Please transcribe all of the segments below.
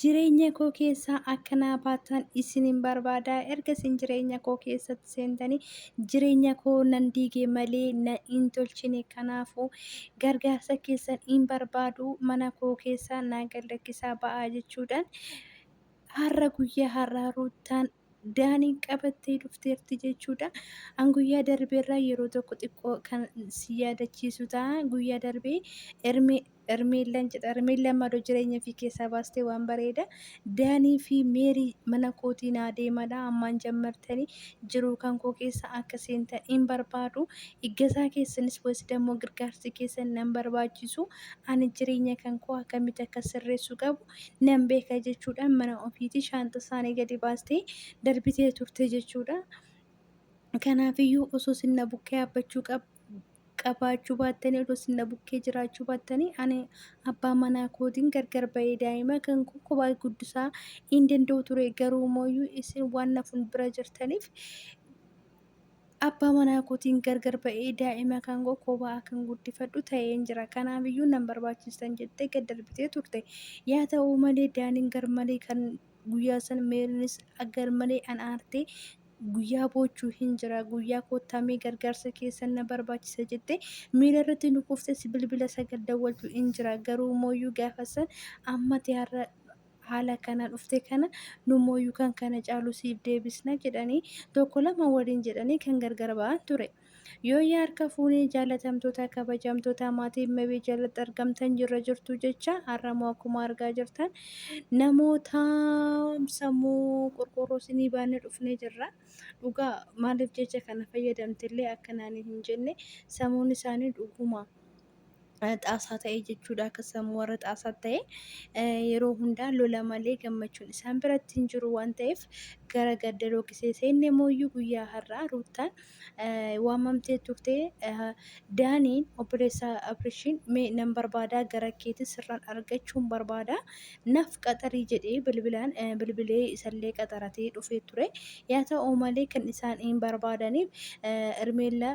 Jireenya koo keessaa akka naa baatan isinin barbaada. Erga isin jireenya koo keessatti seentanii jireenya koo nan diige malee na hin tolchine. Kanaafuu gargaarsa keessan hin barbaadu. Mana koo keessaa naa gad lakkisaa ba'aa jechuudhaan har'a guyyaa har'aa Ruuttaan daaniin qabattee dhufteerti jechuudha. An guyyaa darbeerraa yeroo tokko xiqqoo kan si yaadachiisu ta'a. Guyyaa darbee Ermeellaan jedha. Ermeellaan maaloo jireenya fi keessaa baastee waan bareeda. Daanii fi Meerii mana kootii naa deemadha. Ammaan jammartanii jiruu kan koo keessa akka seentan hin barbaadu. Iggasaa keessanis wayis dammoo gargaarsi keessan nan barbaachisu. Ani jireenya kan koo akkamitti akka sirreessu qabu nan beeka jechuudhaan mana ofiitii shaanxa isaanii gadi baastee darbitee turte jechuudha. Kanaafiyyuu osoo sinna bukkee abbachuu qabaachuu baattanii osoo sinna bukkee jiraachuu baattanii ani abbaa manaa kootiin gargar ba'ee daa'ima kan koo kophaa guddisaa hin danda'u ture garuu mooyyuu isin waan na fuuldura jirtaniif Abbaa manaa kootiin gargar ba'ee daa'ima kan koo kophaa akkan guddifadhu ta'een jira. Kanaafiyyuu nan barbaachistan jettee gad darbitee turte. Yaa ta'u malee Daaniin garmalee kan guyyaa san Meeriinis garmalee an aartee guyyaa boochuu hin jira guyyaa koottaamee gargaarsa keessan na barbaachisa jettee miila irratti nu kuftee si bilbila sagal dawwaltu hin jira garuu mooyyuu gaafa san amma tiyaarra haala kana dhufte kana nummooyyuu kan kana caalu siif deebisna jedhanii tokko lama waliin jedhanii kan gargar ba'an ture. Yooyyaa harka fuunee jaalatamtoota kabajamtoota maatii mebee jalatti argamtan jirra jirtu jecha har'amoo akkuma argaa jirtan namoota sammuu qulqulluu sinii baannee dhufnee jirra. Dhugaa maaliif jecha kana fayyadamtillee akka naanii hin jenne sammuun isaanii dhuguma. xaasaa ta'e jechuudha. Akka sammuu warra xaasaa ta'e yeroo hundaa lola malee gammachuun isaan biratti hin jiru waan ta'eef gara gadda lookisee seenne mooyyuu guyyaa har'aa ruuttaan waamamtee turte daaniin obboleessa abrishiin mee nan barbaadaa gara keetti sirraan argachuun barbaada naaf qaxarii jedhee bilbilaan bilbilee isallee qaxaratee dhufee ture yaa ta'u malee kan isaan hin barbaadaniif ermeellaa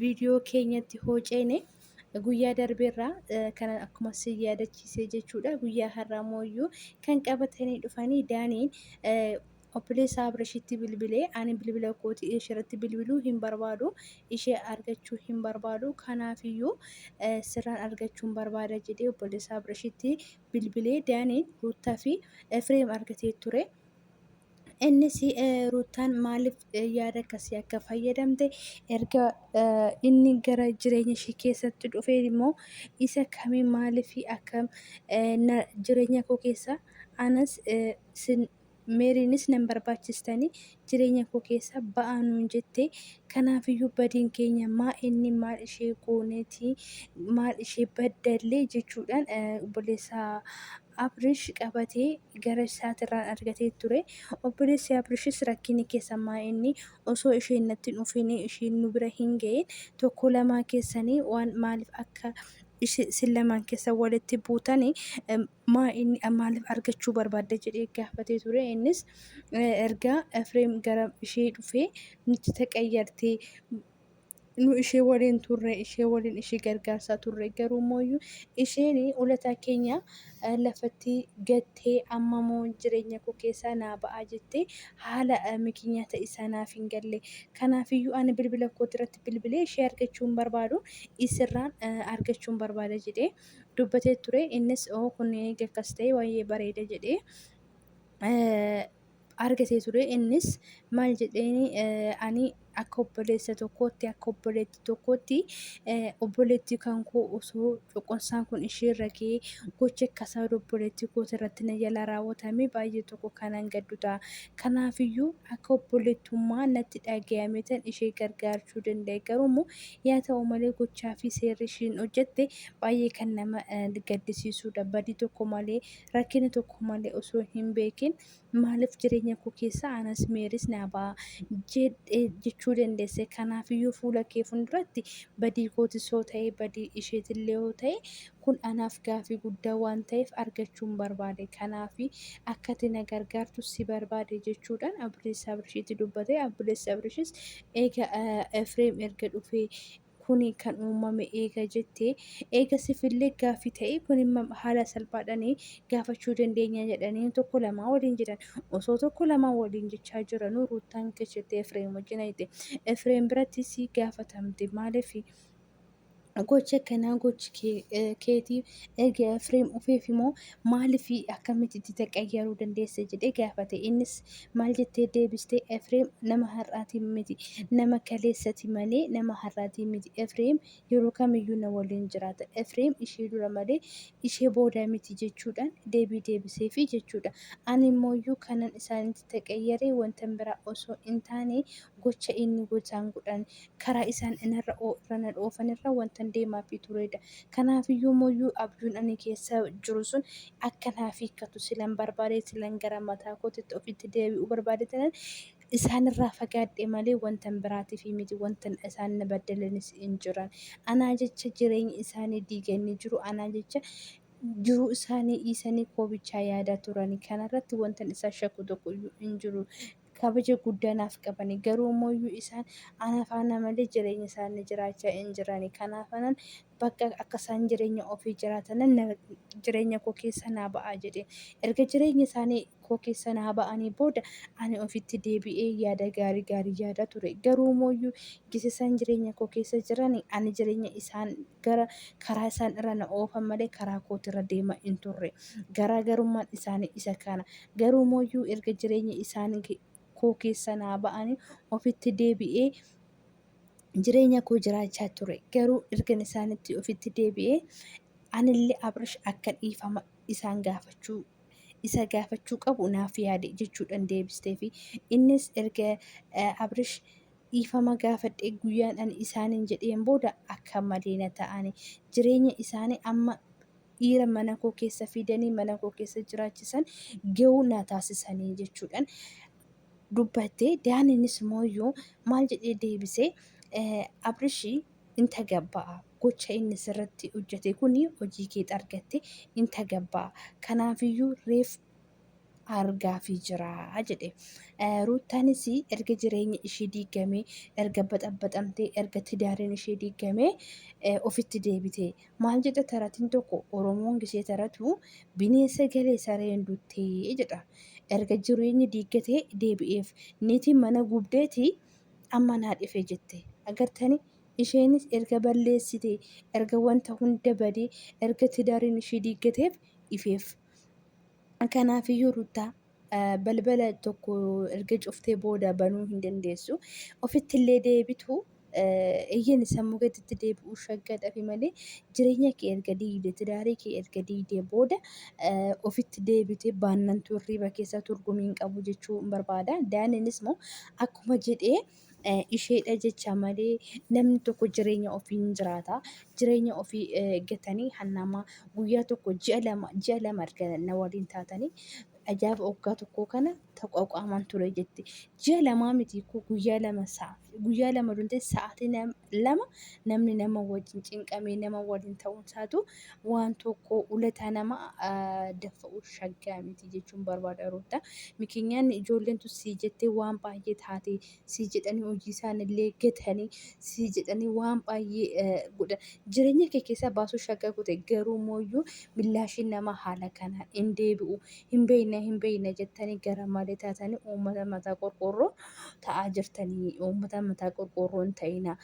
viidiyoo keenyatti hoo ceene guyyaa darbeerraa kan akkuma si yaadachiisee jechuudha guyyaa har'aa mooyyuu kan qabatanii dhufanii daaniin obboleessa Abrishitti bilbilee ani bilbila kooti isheerratti bilbiluu hin barbaadu ishee argachuu hin barbaadu kanaafiyyuu sirraan argachuun barbaada jedhee obboleessa Abrishitti bilbilee daaniin ruuttaa fi Efreem argatee ture. Innis Ruuttaan maaliif yaada akkasii akka fayyadamte erga inni gara jireenya ishee keessatti dhufee immoo isa kamii maaliif akka jireenya koo keessa anas meeriinis nan barbaachistanii jireenya koo keessa ba'aa nuun jette kanaafiyyuu badiin keenya maa inni maal ishee gooneeti maal ishee baddallee jechuudhaan obboleessaa Abrish qabatee gara isaatirraan argatee ture. Obboleessi Abrishis rakkinni keessan maa inni? Osoo isheen natti hin dhufiin isheen nu bira hin ga'iin tokkoo lamaan keessanii waan maaliif akka isin lamaan keessan walitti buutan maa inni maaliif argachuu barbaadda jedhee gaafatee ture. Innis erga Efreem gara ishee dhufee nutti taqayyartee nu ishee waliin turre ishee waliin ishee gargaarsaa turre garuu mooyyuu isheen ulataa keenya lafatti gattee amma moo jireenya koo keessaa naa ba'aa jettee haala mikinyaata isaa naaf hin galle kanaafiyyuu ani bilbila kooti irratti bilbilee ishee argachuun barbaadu isirraan argachuun barbaada jedhee dubbatee ture innis oo kun eega akkas ta'e waa'ee bareeda jedhee argatee ture innis maal jedheen ani akka obboleessa tokkootti akka obboleetti tokkootti obboleetti kan koo osoo cuqunsaan kun ishee irra ga'ee gocha akkasaa obboleetti kooti irratti na jala raawwatame baay'ee tokko kanan gaddu ta'a. Kanaafiyyuu akka obboleettummaa natti dhaga'ame tan ishee gargaarchuu danda'e garuu immoo yaa ta'u malee gochaa fi seerri ishiin hojjette baay'ee kan nama gaddisiisudha badii tokko malee rakkina tokko malee osoo hin beekin maaliif jireenya koo keessa anas meeris naa ba'a jedhe jechuu dandeesse. Kanaafiyyuu fuula kee fuulduratti badii kootis yoo ta'e badii isheetillee yoo ta'e kun anaaf gaafii guddaa waan ta'eef argachuun barbaade. Kanaafi akka ati na gargaartu si barbaade jechuudhaan obboleessa Abrishiitti dubbate. Obboleessi Abrishis eega Efreem erga dhufee kuni kan uumame eega jette eega sifillee gaaffi ta'e kun haala salphaadhaan gaafachuu dandeenya jedhanii tokko lamaa waliin jedhan osoo tokko lamaa waliin jechaa jiranuu ruuttaan kechette efreem wajjin ayite efreem biratti si gaafatamte maaliif gocha kanaa gochi keetii erga efreem ufeef immoo Maaliif akkamitti itti taqayyaruu dandeesse jedhee gaafate. Innis maal jettee deebiste Efreem nama har'aatiin miti nama kaleessati malee nama har'aatiin miti. Efreem yeroo kamiyyuu na waliin jiraata. Efreem ishee dura malee ishee booda miti jechuudhaan deebii deebiseefi jechuudha. Ani immoo iyyuu kanan isaanitti taqayyare wantan biraa osoo hin taane gocha inni gotaan godhan karaa isaan anarra irra na dhoofanirra wantan deemaafii tureedha. Kanaafiyyuu mooyyuu abjuun ani keessa jiru sun akka naaf hiikkatu silan barbaade silan gara mataa kootitti ofitti deebi'uu barbaade tanan isaanirraa fagaadhe malee wantan biraatiifii miti wantan isaan na baddalanis hin jiran. Anaa jecha jireenya isaanii diiganii jiru anaa jecha jiruu isaanii dhiisanii koo bichaa yaadaa turani kanarratti wantan isaan shakku tokkoyyuu hin jiru. kabaja guddaa naaf qabani. Garuu immoo iyyuu isaan ana faana malee jireenya isaanii jiraachaa hin jirani. Kanaafanan bakka akka isaan jireenya ofii jiraatanan na- jireenya koo keessa naa ba'aa jedheen. Erga jireenya isaanii koo keessa naa ba'anii booda ani ofitti deebi'ee yaada gaarii gaarii yaadaa ture. Garuu immoo iyyuu gisa isaan jireenya koo keessa jirani ani jireenya isaan gara karaa isaan irra na oofan malee karaa kootirra deema hin turre. Garaagarummaan isaanii isa kana. Garuu mooyyuu erga jireenya isaan koo keessa naa ba'anii ofitti deebi'ee jireenya koo jiraachaa ture. Garuu ergan isaanitti ofitti deebi'ee anillee Abrish akka dhiifama isaan gaafachuu isa gaafachuu qabu naaf yaade jechuudhaan deebisteefi. Innis erga Abrish dhiifama gaafadhee guyyaan ani isaaniin jedheen booda akka malee na ta'ani. Jireenya isaanii amma dhiira mana koo keessa fidanii mana koo keessa jiraachisan ga'uu na taasisanii jechuudhaan dubbatte daaniinis mooyyuu maal jedhee deebisee abrishii in tagabba'a gocha inni sirratti hojjete kun hojii keet argatte in tagabba'a kanaafiyyuu reef argaafi jira jedhe. Ruuttaanis erga jireenya ishee diigamee, erga baxabaxamtee, erga tidaariin ishee diigamee ofitti deebite. Maal jedha taratiin tokko Oromoon gisee taratu bineensa galee sareen duttee jedha. Erga jireenyi diiggatee deebi'eef niitiin mana gubdeeti amma naa dhife jette. Agartani isheenis erga balleessite, erga wanta hunda badee, erga tidaariin ishee diiggateef ifeef. Kanaafiyyuu Ruttaa balbala tokko erga cuftee booda banuu hin dandeessu. Ofitti illee deebitu eeyyeen sammuu keetitti deebi'uu shaggaa dhabe malee jireenya kee erga diigde tidaarii kee erga diigde booda ofitti deebite baannantu hirriba keessa turgumii hin qabu jechuun barbaada. Daaniinis immoo akkuma jedhee isheedha jecha malee namni tokko jireenya ofii hin jiraata. Jireenya ofii gatanii hannama guyyaa tokko ji'a lama ji'a lama erga na waliin taatanii ajaa'iba waggaa tokkoo kana taqwaqaamaan ture jetti. Ji'a lamaa miti koo guyyaa lama sa'a guyyaa lama dundee sa'aatii lama namni nama wajjin cinqamee nama waliin ta'uun isaatu waan tokko ulataa nama daffa'u shaggaa miti jechuun barbaada Ruuttaa. Mikinyaan ijoolleen tun sii jettee waan baay'ee taate sii jedhanii hojii isaanillee gatanii sii jedhanii waan baay'ee godha. Jireenya kee keessaa baasuu shaggaa goote garuu mooyyuu millaashiin nama haala kanaan hin deebi'u. Hin beeyna hin beeyna jettanii gara malee taatanii uummata mataa qorqoorroo ta'aa jirtanii uummata mataa qorqoorroo hin ta'ina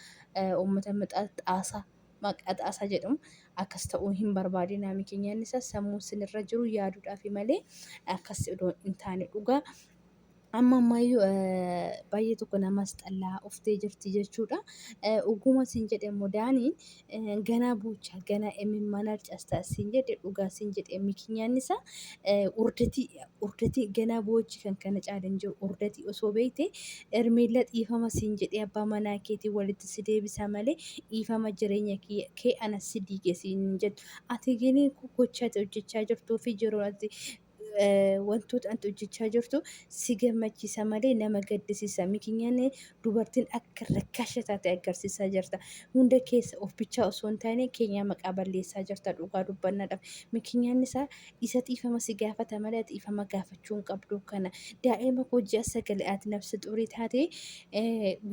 uummata mataa xaasaa Maqaa Xaasaa jedhu akkas ta'uu hin barbaadinaa mikiin yaadni isaa sammuu sin irra jiru yaaduudhaafi malee akkas odoo hin taane dhugaa amma ammayyuu baay'ee tokko namas xallaa uftee jirti jechuudha. Oguma sin jedhe immoo daaniin ganaa buucha ganaa imimmaan harcasta sin jedhe dhugaa sin jedhe mikiin yaadni isaa urdatii urdatii ganaa boochi kan kana caala hin jiru urdatii osoo beeyte Hermeella dhiifama siin jedhee abbaa manaa keetiin walitti si deebisa malee dhiifama jireenya kee anas si diige siin hin jettu. Ati gini gocha ati hojjechaa jirtuu fi jiruun ati wantoota ati hojjechaa jirtu si gammachiisa malee nama gaddisiisa. Mikinyaan dubartiin akka rakkaasha taate agarsiisaa jirta. Hunda keessa of bichaa osoo hin taane keenyaa maqaa balleessaa jirta dhugaa dubbannadhaaf. Mikinyaan isaa isa dhiifama si gaafata malee dhiifama gaafachuu hin qabdu kana daa'ima koo ji'a sagale ati nafsi xurii taate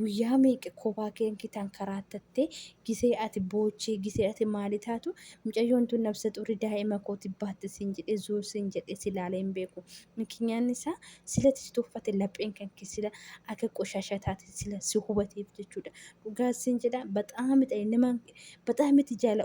guyyaa meeqa kophaa keen kitaan karaa tatte gisee ati boochee gisee ati maali taatu mucayyoon tun nafsi xurii daa'ima kooti baatte siin jedhe zuur siin jedhe si ilaalee hin beeku mikinyaan isaa silati si tuffate lapheen kan kee sila akka qoshasha taate sila si hubateef jechuudha dhugaa siin jedha baxaamidha nama baxaamiti jaala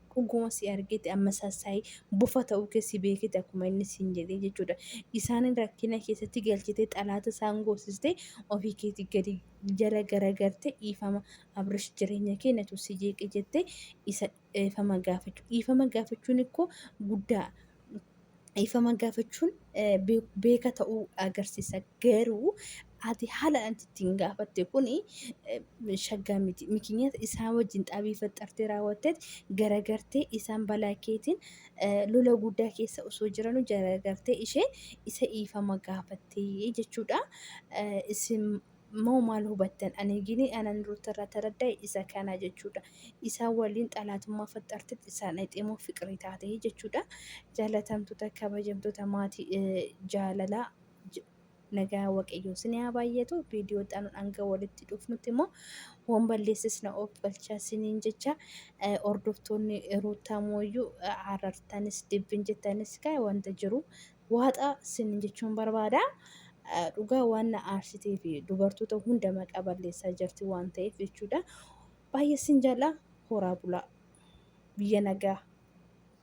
Dhuguma si argeti amma sassayi bofa ta'uu kee si beeketi akkuma inni siin jedhee jechuudha. Isaanin rakkina keessatti galchitee xalaata isaan goosistee ofii keeti gadi jala garagartee dhiifama Abrish jireenya kee natu si jeeqe jettee isa dhiifama gaafachuu. Dhiifama gaafachuun ikkoo guddaa dhiifama gaafachuun beeka ta'uu agarsiisa. Garuu ati haala ati ittiin gaafatte kun shaggaa miti. Mikinyata isaan wajjin xaabii faxxartee raawwatte garagartee isaan balaa keetiin lola guddaa keessa osoo jiranuu garagartee ishee isa dhiifama gaafattee jechuudha. Isin moo maal hubattan? Ani gini anan ruutarraa taradda'e isa kana jechuudha. Isaan waliin xalaatummaa faxxartetti isaan dhayxee moo fiqirii taate jechuudha. Jaalatamtoota kabajamtoota maatii jaalalaa nagaa waaqayyoo isin haa baay'atu. Viidiyoo xanuun hanga walitti dhufnutti immoo waan balleessis na of galchaa isiniin jecha hordoftoonni ruuttaa mooyyuu arartanis dibbin jettanis kaa wanta jiru waaxa sin jechuun barbaada. Dhugaa waan na aarsitee fi dubartoota hunda maqaa balleessaa jirti waan ta'eef jechuudha. Baay'ee sin jaalladha horaa bulaa biyya nagaa.